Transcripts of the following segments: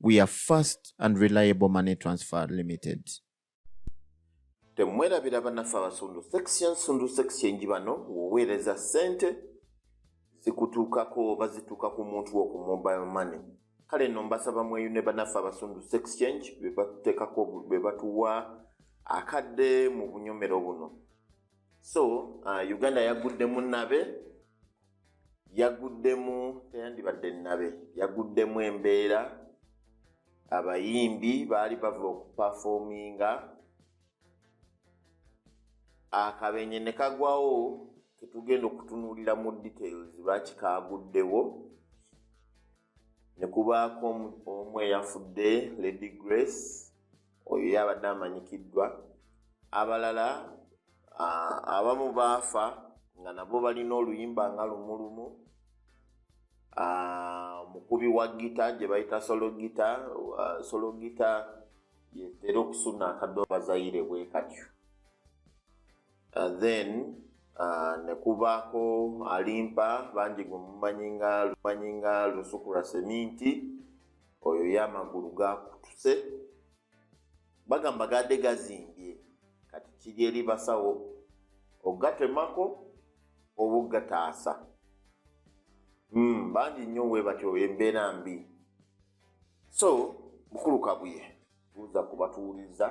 We are fast and reliable money transfer limited. Temwerabira banaffe abasundu section sundu section bano woweereza ssente zikutuukako oba zituuka ku muntu wo ku mobile money kale no mbasaba mweyune banaffe abasundu exchange bebatutekako bebatuwa akadde mu bunyomero buno so uh, uganda yagudde munabe yaguddemu teyandibadde nabe yaguddemu embeera abayimbi baali bava okupafominga akabenye ne kagwawo ketugenda okutunuulira mu details lwaki kaaguddewo ne kubaako omu eyafudde lady grace oyo yabadde amanyikiddwa abalala abamu baafa nga nabo balina oluyimba nga lumulumu mukubi wa gita gye bayita sologita sologita yetera okusuna akadoobazaire bwe katyo uh, then uh, nekubaako alimpa bangi gwe mumanyi nga lumanyi nga lusukura seminti oyo ye amagulu gakutuse bagamba gadde gazimbye kati kiri eri basawo ogatemako oba ogataasa hmm, bangi nnyo we batyo embeera mbi so mukulu kabuye buuza kubatuwuliza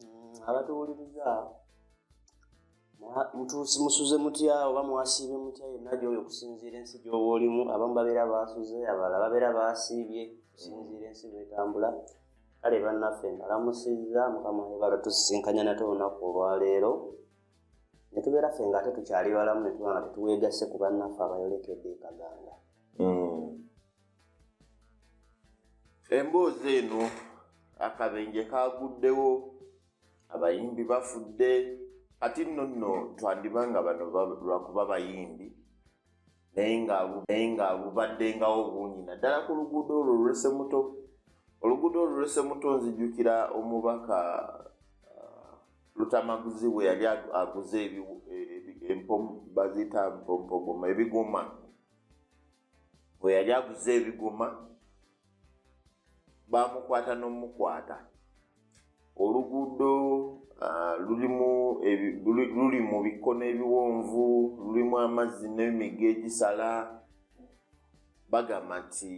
mm, abatuwuliriza mutuusi musuze mutya oba mwasiibe mutya yenna gyoyo okusinziira ensi gyoba olimu abamu babeera basuze abalala babeera basiibye okusinziira ensi bwetambula kale bannaffe mbalamusizza mukama ebala tusisinkanya nate olunaku olwaleero netubeera ffe nga ate tukyali balamu netuba nga tetuweegasse ku bannaffe abayolekedde ekaganda mm. emboozi eno akabenje kaguddewo abayimbi bafudde kati nno nno twandiba nga bano lwakuba bayimbi naye nga bubaddengawo bungi naddala ku luguudo olwo olwese muto oluguudo olwese muto nzijukira omubaka uh, lutamaguzi bwe yali aguze e, e, e, baziyita mpompogoma ebigoma bwe yali aguze ebigoma bamukwata n'omukwata oluguudo ah, luli mu bikkono ebiwonvu lulimu amazzi n'emiga egisala bagamba nti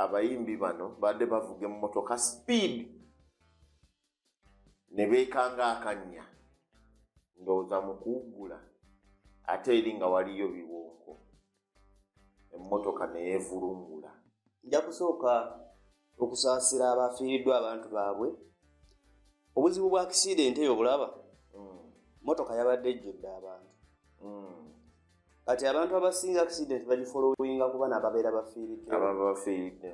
abayimbi bano baadde bavuga emmotoka speed ne beekanga akannya ndowooza mu kuwuggula ate eri nga waliyo biwonko emmotoka ne yeevulungula nja kusooka okusaasira abafiiriddwa abantu baabwe obuzibu bwa akisiidenti eyo obulaba mm. mmotoka yabadde ejjudde abantu mm. kati abantu abasinga accident bagifolowinga kuba nababeera bafiiridde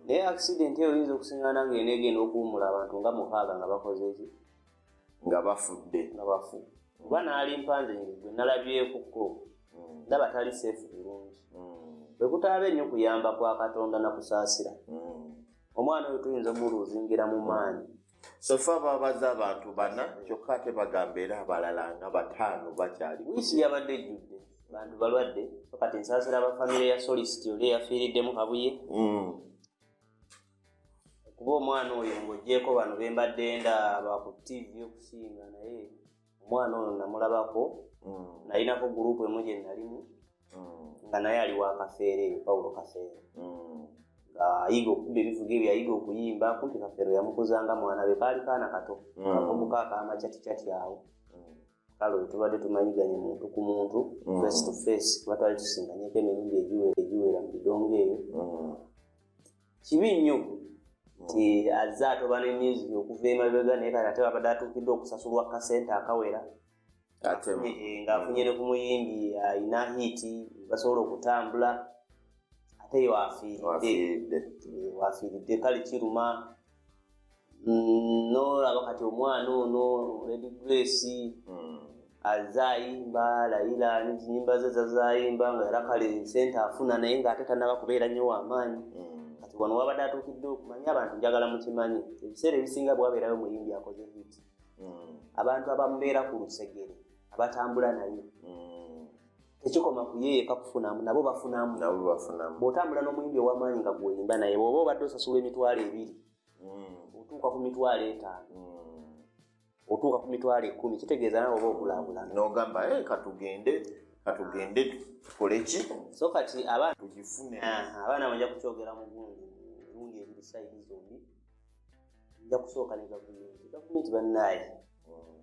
naye accident eyo oyinza okusingana nga ena egenda okuwumula abantu nga mukaaga nga bakoze eki nga bafudde nga bafu kuba naali mpanze ngegwe nalabyekuko mm. ndaba tali seefu bulungi mm. bwekutaaba ennyo kuyamba kwa katonda nakusaasira mm. omwana oyo tuyinza omuluuzingira mu maanyi sofa babaza abantu bana kyokka ate bagamba era abalala nga bataano bakyali wiisi yabadde ejjudde bantu balwadde kati nsaasira aba famire ya solisiti oli eyafiiriddemu kabuye mm. kuba omwana oyo ngaogyeko bano bembadde nda baku tivi okusinga naye omwana ono namulabako mm. nalinako gurupu emu gye nalimu mm. nga naye ali wa kafeere eyo pawulo kafeere mm. ngaayiga okukuba ebivuga ebyo yayiga okuyimba kumpi kafeero yamukuzanga mwana be kaali kaana kato kakomuka akamacaticati awo kale oyo tubadde tumanyiganye muntu ku muntu face to face kuba twali tusinganyeko emiyimbi egiwera mu bidongo eyo kibi nnyo nti azze atoba ne music okuva emabega naye kati ate babadde atuukiddwa okusasulwa kasente akawera eh, ng'afunye ne ku muyimbi alina hiiti basobola okutambula ate yo afiiridde wafiiridde eh, kale kiruma mm, nolaba kati omwana ono lady grace mm. azayimba layila nyimba ze zazayimba nga era kale sente afuna naye ngaate tanaba kubeera nnyo wamaanyi mm. kati wano wabadde atuukidde okumanya abantu njagala mukimanyi ebiseera ebisinga bwabeerayo muyimbi akoze hit abantu abamubeera ku lusegere abatambula naye tekikoma kuyeyeka kufunamu nabo bafunamu bwotambula n'omuyimbi owamaanyi nga gwoyimba naye bwoba obadde osasula emitwalo ebiri hmm. otuuka ku mitwalo etaano hmm. otuuka ku mitwalo ekumi kitegeeza nawe oba okulabulana nogamba eh, katugende katugende tukoleki so kati abaana tugifune abaana banja kukyogera mugundi mirundi ebiri saidi zombi nja kusooka ne gavumenti gavumenti bannaayi mm.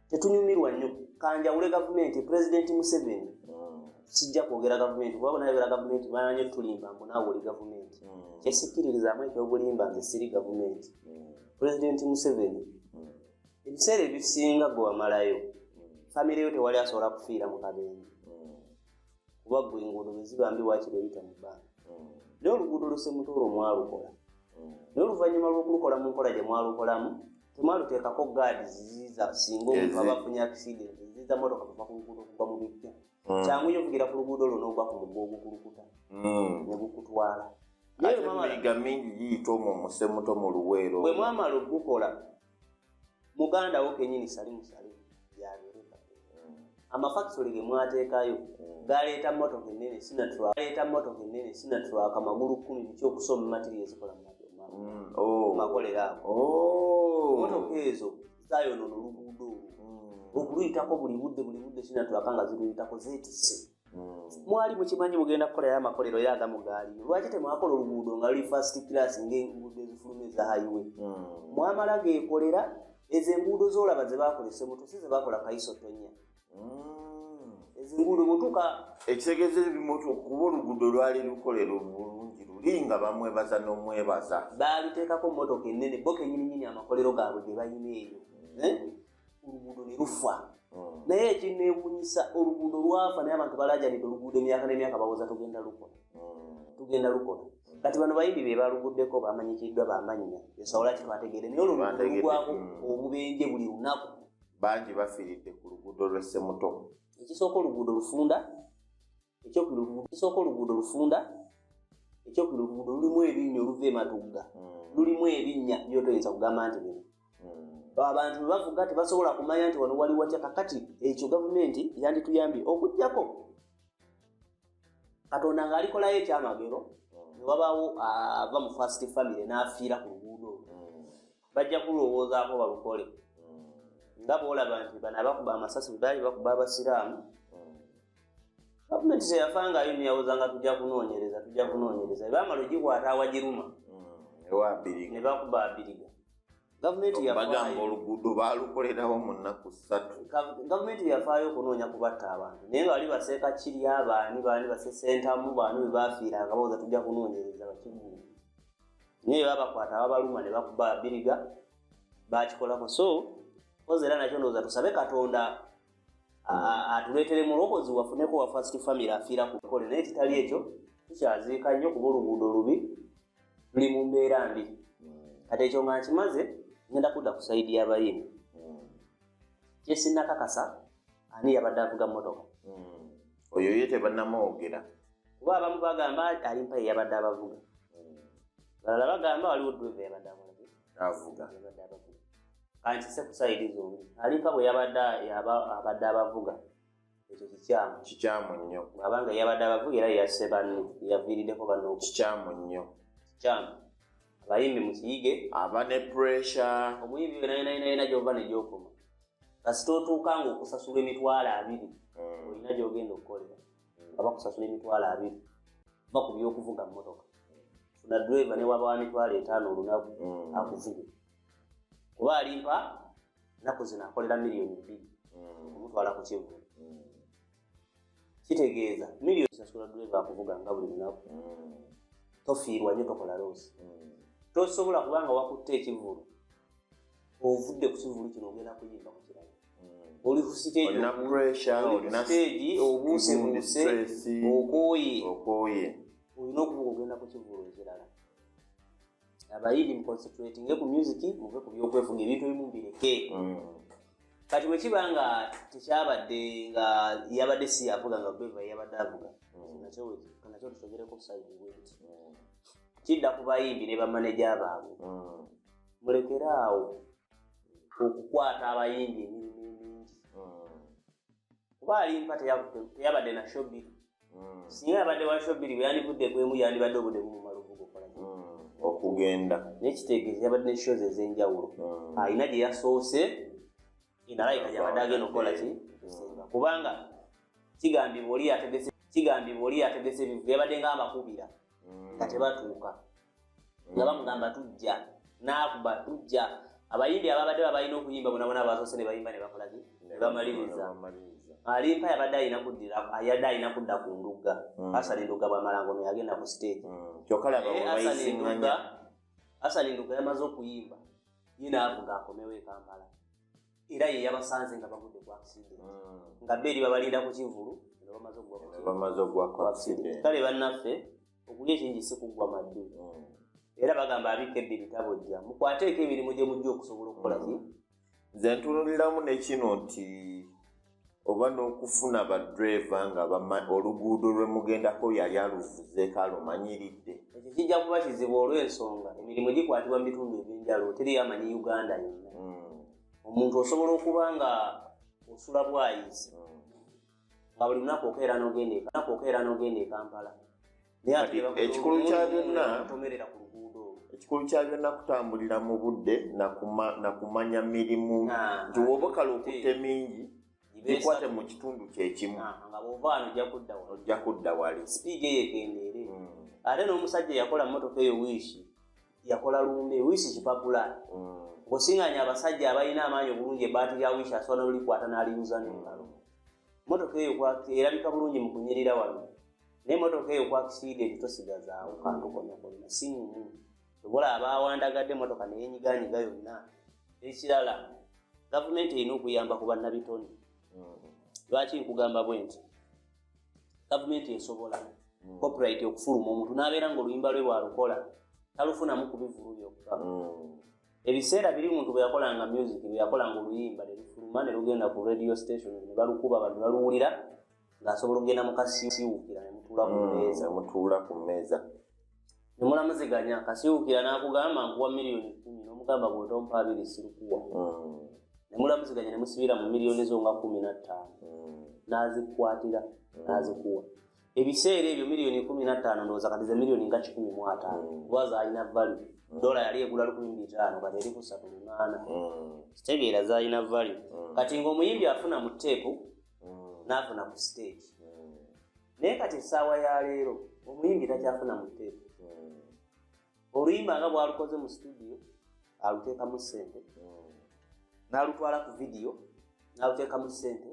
tetunyumirwa nnyo kanjawule gavumenti pulezidenti museveni mm. sijja kwogera gavumenti kuba bonayogera gavumenti banyo tulimba mbu naawe oli gavumenti mm. kyesikkiririzaamu ekyobulimba nze siri gavumenti pulezidenti museveni ebiseera ebisinga gwe wamalayo famireyo tewali asobola kufiira mu kabenje kuba gwe enguudo bweziba mbi wakiri oyita mu bbanga hmm. naye oluguudo lusemutoolo mwalukola hmm. naye oluvannyuma lw'okulukola mu nkola gye mwalukolamu temwaluteekako gaadi ziziiza singa omuntu aba afunye akisidenti ziziiza motoka kuva ku luguudo okuva mu bijja hmm. kyangu yo okugira ku luguudo luno ogwa ku mugga ogukulukuta ne gukutwala naye mama liga mingi giyita omwo musemuto mu luweero bwe mwamala okugukola muganda wo kenyini sali musale yalireka amafakisole ge mwateekayo mm. galeeta motoka enene sinatgaleeta motoka enene sinatwaka magulu kumi biki okusoma matiri ezikola mumakolera mm. ago oh. oh. motoka ezo zayonono oluguudo olwo mm. okuluyitako buli budde buli budde sinatwaka nga ziruyitako zetise mwali mukimanyi mugenda kukolayo amakolero yo agamu gaali lwaki temwakola oluguudo nga luli fast class ngaenguudo ezifuluma eza highway hmm. mwamala gekolera ezo enguudo zolaba zebakola esemuto si zebakola kaiso tonya hmm. ezinguudo mutuka ekitegeeza ebimutu kuba oluguudo lwali lukolero bulungi luli nga bamwebaza nomwebaza baaliteekako motoka enene bo kenyininyini amakolero gaabwe gebalina eyo hmm. eh? oluguudo ne lufa hmm. naye ekinneewuunyisa oluguudo lwafa naye abantu balajanidde oluguudo emyaka n'emyaka bawoza tugenda lukola hmm. tugenda lukola hmm. kati bano bayimbi be baluguddeko bamanyikiddwa bamannya esawola kitwategeere naye olwo lugwako obubenje buli lunaku bangi bafiiridde ku luguudo lw'essemuto ekisooka oluguudo lufunda ekyokubiri oluguudo tusooka oluguudo lufunda ekyokubiri oluguudo lulimu ebinnya oluva ematugga hmm. lulimu ebinnya byotoyinza kugamba nti bino hmm. abantu bebavuga tebasobola kumanya nti wano wali watya kakati ekyo gavumenti yandituyambye okujjako katonda ngaalikolayo ekyamagero hmm. newabaawo ava mu fast family n'afiira ku luguudo bajja kulowoozaako balukole mm. nga boolaba nti bano abakuba amasasi bwebaali bakuba abasiraamu mm. gavumenti zeyafa nga ayo neyawoza nga tujja kunoonyereza tujja kunoonyereza ebamala ogikwata awagiruma mm. ne bakuba abiriga gavumentiagamba oluguudo balukolerawo mu nnaku ssatu gavumenti yafaayo okunoonya kubatta abantu naye nga bali baseeka kirya baani baani basesentamu baani bwe bafiira nga bawoza tujja kunoonyereza bakigundi naye babakwata babaluma ne bakuba biriga bakikolako so oza era nakyo ndowooza tusabe katonda atuleetere mulokozi wafuneko wa first family afiira ku kole naye kitali ekyo tukyaziika nnyo kuba oluguudo lubi luli mu mbeera mbi hmm. kati ekyo nga nkimaze ngenda kudda ku saidi y'abayini hmm. kyesinakakasa ani yabadde avuga motoka hmm. oyo ye tebanamwogera kuba abamu bagamba alimpa yeyabadde abavuga hmm. balala bagamba waliwo drive yabadde avuga kankise kusaidi zombi alimpa bwe yabadde abadde abavuga ekyo kikyamu kikyamu nnyo abanga yabadde abavuga era yasse banne yaviiriddeko banno kikyamu nnyo kikyamu abayimbi mukiyige aba ne puresha omuyimbi wenayinayinayina gyova negyokoma kasita otuuka nga okusasula emitwalo abiri hmm. olina gyogenda okukolera nga bakusasula emitwalo abiri va ku byokuvuga mmotoka funa driva ne waba wa mitwalo etaano olunaku mm. akuvuge kuba alimpa naku zino akolera miliyoni bbiri mm. omutwala ku kivu mm. kitegeeza miliyoni sasula driva akuvuga nga buli lunaku tofiirwa nyo tokola loosi tosobola kubanga wakutta ekivulu ovudde ku kivulu kino ogenda kuyimba ku kirala oli ku siteegiolina pressureolinasteegi obuusebuuse okooye okooye olina okuba ogenda ku kivulu ekirala abayidi muconcentratinge ku music muve ku byokwefuga ebintu ebimu mbireke mm. kati bwekiba nga tekyabadde nga yabadde si avuga nga beva yabadde avuga mm. nakyo tusogereko saidi weti mm. kidda ku bayimbi ne bamaneja baabwe mulekere awo okukwata abayimbi emirimu emingi hmm. kuba alimpa teyabadde na shobiri hmm. singa yabadde wa shobiri bweyandivudde kwemu yandibadde obudde bumumaluvugokola hmm. okugenda nekitegeeza yabadde ne shows ezenjawulo alina gye yasoose enalaika gyabadde agenda okukola ki kubanga kigambibwa oli yategese kigambibwa oli yategese bivu yabadde nga abakubira nga tebatuuka nga bamugamba tujja naakuba tujja abayimbi ababadde babalina okuyimba bonabona basoose ne bayimba ne bakolaki ne bamaliriza alimpa yabadde alina kuddira yadde alina kudda ku ndugga hmm. asali ndugga bwamalango no yagenda ku stage hmm. kyokkalaabaasaliga asali ndugga yamaze okuyimba ye naavuga akomewo ekampala era ye yabasanze nga bagudde ku accident hmm. nga beeri babalinda ku kivulu nga bamaze okugwa ku accident kale bannaffe okulya ekingi si kuggwa maddu mm. era bagamba abika ebbi bitabo jja mukwateeko emirimu gye mujja okusobola okukola ki mm. nze ntunuliramu nekino nti oba n'okufuna badreva nga oluguudo lwe mugendako yali aluvuzeeko alumanyiridde ekyo kijja kuba kizibu olw'ensonga emirimu gikwatibwa mu bitundu eby'enjalo teriyo amanyi uganda yonna mm. omuntu osobola okuba nga osula bwayisi nga buli lunaku okeera nogenda ekalunaku okeera nogenda ekampala ekikulu kya byonna tomerera ku luguudo ekikulu kya byonna kutambulira mu budde nakumanya mirimu nti woba kale okutte mingi gikwate mu kitundu kyekimu nga bwova wano ojja kudda wali sipiidi eyo egendeere hmm. ate n'omusajja eyakola motoka eyo wiishi yakola lumbe wiisi kipapula mm. ng'osiŋanya abasajja abalina amaanyi obulungi ebbaati lya wiisi asobola nolulikwata n'aliyuza nengalo motoka eyo erabika bulungi mu kunyirira wano naye motoka eyo kwakisiide nti tosigazaawo kantu konakolina sinyumu obola abaawandagadde motoka neyenyiganyiga yonna ekirala gavumenti erina okuyamba ku bannabitone mm. lwaki nkugamba bwe nti gavumenti esobola mm. copyright okufuluma omuntu n'abeera nga oluyimba lwe lwalukola talufunamu kubivulu byokka mm. ebiseera biri muntu bwe yakolanga music bwe yakolanga oluyimba ne lufuluma ne lugenda ku radio station ne balukuba bantu baluwulira ng'asobola okugenda mu kasiwukira ne mutuula ku mm, mmeeza mutuula ku mmeeza ne mulamuziganya kasiwukira n'akugamba nkuwa miliyoni kumi n'omugamba bw'otompa abiri sirikuwa hmm. ne mulamuziganya ne musibira mu miliyoni zo nga kumi na ttaano hmm. n'azikwatira hmm. n'azikuwa ebiseera ebyo miliyoni kumi na ttaano ndowooza kati ze miliyoni nga kikumi mu ataano kuba zaalina valu dola yali egula lukumi mu bitaano kati eri kusatu lunaana kitegeera zaalina valu kati ng'omuyimbi afuna mu teepu n'afuna ku siteegi naye kati essaawa ya leero omuyimbi takyafuna mu teepu hmm. oluyimba nga bwalukoze mu situdiyo aluteekamu ssente hmm. n'alutwala ku vidiyo n'aluteekamu ssente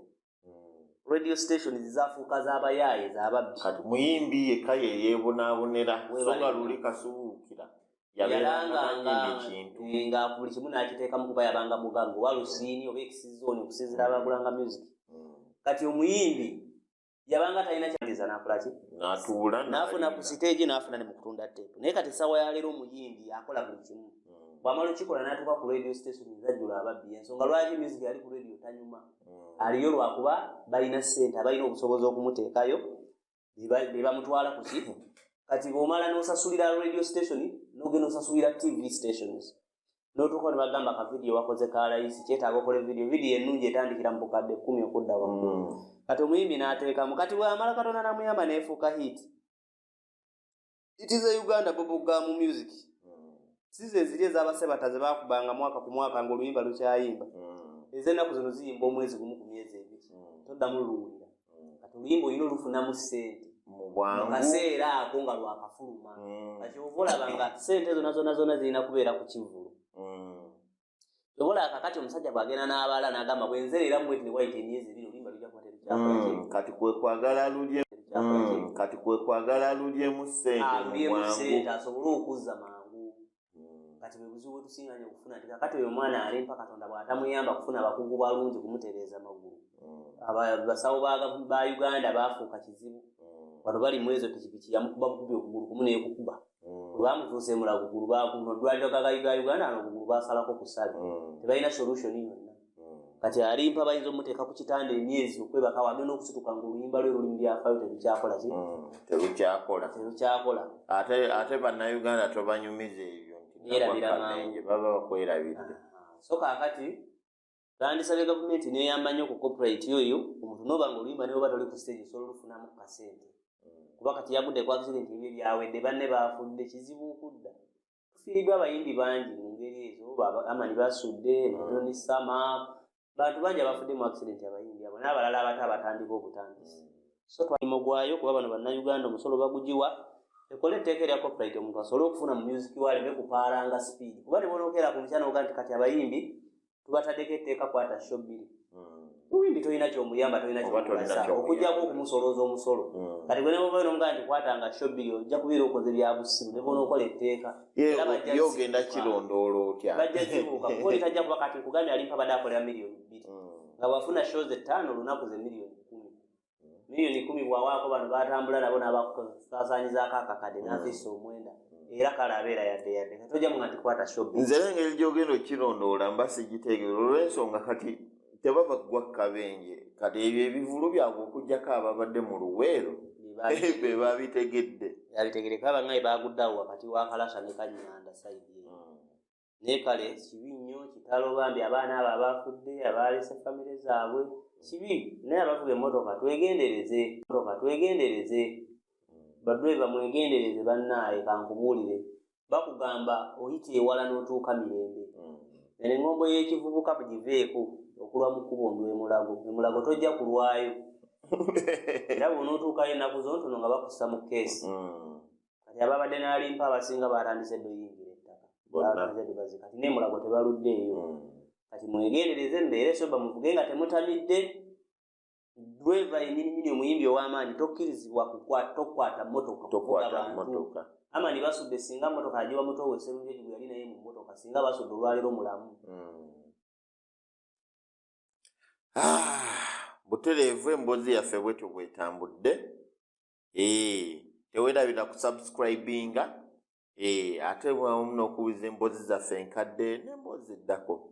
radio station zizafuuka zabayaaye zababbi kati muyimbi yekka yeyeebonabonera songa luli kasubuukira yaberangakintu eh, nga buli kimu nakiteekamu kuba yabanga mugaga oba lusiini oba ekisizooni okusinzira abagulanga music hmm. kati omuyimbi yabanga talina kyageza nakolaki natuula nafuna ku siteegi nafuna ne mukutunda teepu naye kati essaawa yaleero omuyimbi akola buli kimu hmm. bwamala okikola natuuka ku radio station ezajjula ababbi ensonga lwaki music ali ku radio tanyuma hmm. aliyo lwakuba balina ssente abalina obusobozi okumuteekayo be bamutwala kuki kati bwomala nosasulira radio station nogenda osasulira tv stations notuuka nebagamba ka vidiyo wakoze ka layisi kyetaaga okola vidiyo vidiyo ennungi etandikira mu bukadde kkumi okudda waggulu mm. kati omuyimbi n'ateekamu kati bwamala katonda namuyamba neefuuka hit it is a uganda boboga mu music sizo eziri ezabasebata zebakubanga mwaka ku mwaka ngaoluyimba lukyayimba mm. ezenaku zino ziyimba omwezi gumu ku myezi ebiri mm. toddamu luluwulira mm. kati oluyimba olina olufunamu sente mukaseera ako nga lwakafuluma mm. kati ova olaba nga sente zona zona zona zirina kubeera ku kivulu obola kakati omusajja bwagenda n'abaala n'agamba bwenzereera mubweti ne wayita emyezi ebiri oluyimba lujja kubaterekyakati kati kwekwagala lulye kati kwekwagala lulyemu sente alulyemu sente asobole okuzza mangu hmm. kati bwebuzibu bwetusinga nyo okufuna nti kakati oyo omwana alimpa katonda bwatamuyamba kufuna abakugu balungi kumutereeza maggulu hmm. basawo ba uganda bafuuka kizibu wano bali mwezo pikipiki yamukuba bukubi okugulu kumu nekukuba olwamutuusa emulagugulu bakuno dwaliro gagaga uganda nokugulu basalako kusabi tebalina solution yonna kati alimpa bayinza omuteeka ku kitanda emyezi okwebaka wambe n'okusituka nga oluyimba lwe luli mubyafayo tebikyakola ki mm, tebikyakola tebikyakola ate ate bannayuganda tobanyumiza ebyo ntierabiramanje baba bakwerabiridde ah, so kakati tandisabye gavumenti neyambanyo ku corporate yoyo omuntu noba nga oluyimba neoba toli ku stage osobola olufunamu ku kasente mm. kuba kati yagudde kwakisire nti ebyo byawedde banne bafudde kizibu okudda tufiiriddwa abayimbi bangi mu ngeri ezo amani basudde mutoni mm. sama bantu bangi abafudde mu accident abayimbi abo n'abalala abato abatandika obutandisi mm. so twalimo gwayo kuba bano bannayuganda omusolo bagugiwa ekola etteeka erya copyright omuntu asobole okufuna mu music waleme kupaalanga speed kuba ne bonokeera ku mukyana oga nti kati abayimbi tubatadeko etteeka kwata sho bbiri muyimbi tolina kyomuyamba tolina kyomugasa okujjako okumusolooza omusolo mm. kati gwenemuvayo nomugaa nti kwatanga shobiri ojja kubeera okoze byabusimu nebona okola etteeka yogenda kirondoola otya bajja kibuuka kuba oli tajja kuba kati nkugambye alimpa bade akolera miliyoni bbiri mm. nga bwafuna shows ettaano olunaku ze miliyoni kumi million kumi bwawaako bano batambula nabo nabakusasanyizaako akakade mm. nafisa omwenda era kale abeera yadde yadde katojamu nga tikwata shop nze nengeri gyogenda okukirondoola mba sigitegeera olwensonga kati tebaba ggwa kabenje kati ebyo ebivulu byabwe okugjako ababadde mu luweero be babitegedde yabitegedde kaba nga ebaguddeawo wakati wa kalasa ne kanyanda saidi naye kale kibi nnyo kitalo bambi abaana abo abafudde abaalese famire zaabwe kibi naye abavuga emmotoka twegendereze motoka twegendereze badreva mwegendereze bannaaye kankubuulire bakugamba oyita ewala n'otuuka mirembe mm. eno eŋŋombo y'ekivubuka bugiveeko okulwa mu kkubo ndwemulago emulago tojja kulwayo era bwonotuukayo ennaku zontono nga bakussa mu keesi mm. kati ababadde nalimpa abasinga batandise doyingira ettaka kati nemulago tebaluddeeyo hmm. kati mwegendereze mbeere soba muvuge nga temutamidde dreva enyininyini omuyimbi ow'amaanyi tokkirizibwa tokwata motoka tokwatamotoka amani basudde singa motoka agiwa muto we serunjoji gwe yali naye mu motoka singa basudde olwaliro mulamu hmm. ah, butereevu emboozi yaffe bwetyo bwetambudde ee tewerabira kusubscribinga ee ate wamu n'okuwuliza emboozi zaffe enkadde n'emboozi eddako